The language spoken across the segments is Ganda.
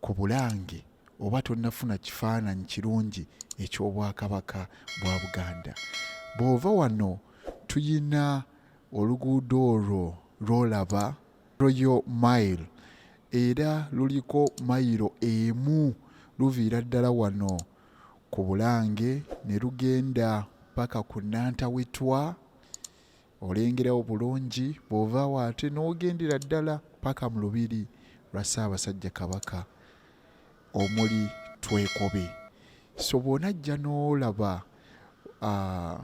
ku Bulange oba tonnafuna kifaananyi kirungi eky'Obwakabaka bwa Buganda. Bw'ova wano tulina oluguudo olwo lw'olaba Royal Mile era luliko mayiro emu luviira ddala wano ku Bulange ne lugenda paka ku Nantawetwa olengera obulungi bw'ovaawo ate n'ogendera ddala paka mu lubiri lwa Ssaabasajja Kabaka omuli Twekobe so bw'onajja n'olaba uh,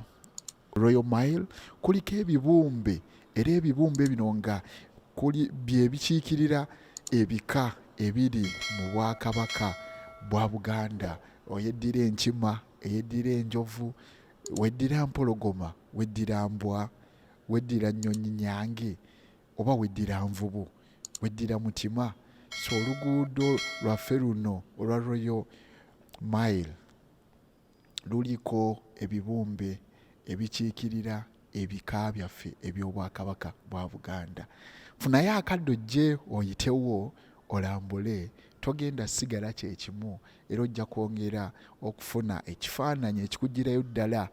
Royal Mile kuliko ebibumbe era ebibumbe bino nga kuli bye bikiikirira ebika ebiri mu Bwakabaka bwa Buganda oyeddira enkima eyeddira enjovu weddira mpologoma Weddira mbwa, weddira nnyonyi nyange oba weddira nvubu, weddira mutima. So oluguudo lwaffe luno olwa Royal Mile luliko ebibumbe ebikiikirira ebika byaffe eby'Obwakabaka bwa Buganda. Funayo akadde ojje oyitewo olambule togenda sigala kye kimu era ojja kwongera okufuna ekifaananyi ekikugirayo ddala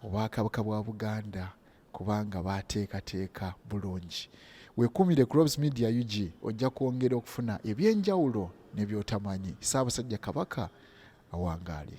Obwakabaka bwa Buganda kubanga baateekateeka bulungi. Weekuumire ku Robs Media UG ojja kwongera okufuna eby'enjawulo ne by'otamanyi. Ssaabasajja Kabaka awangaale.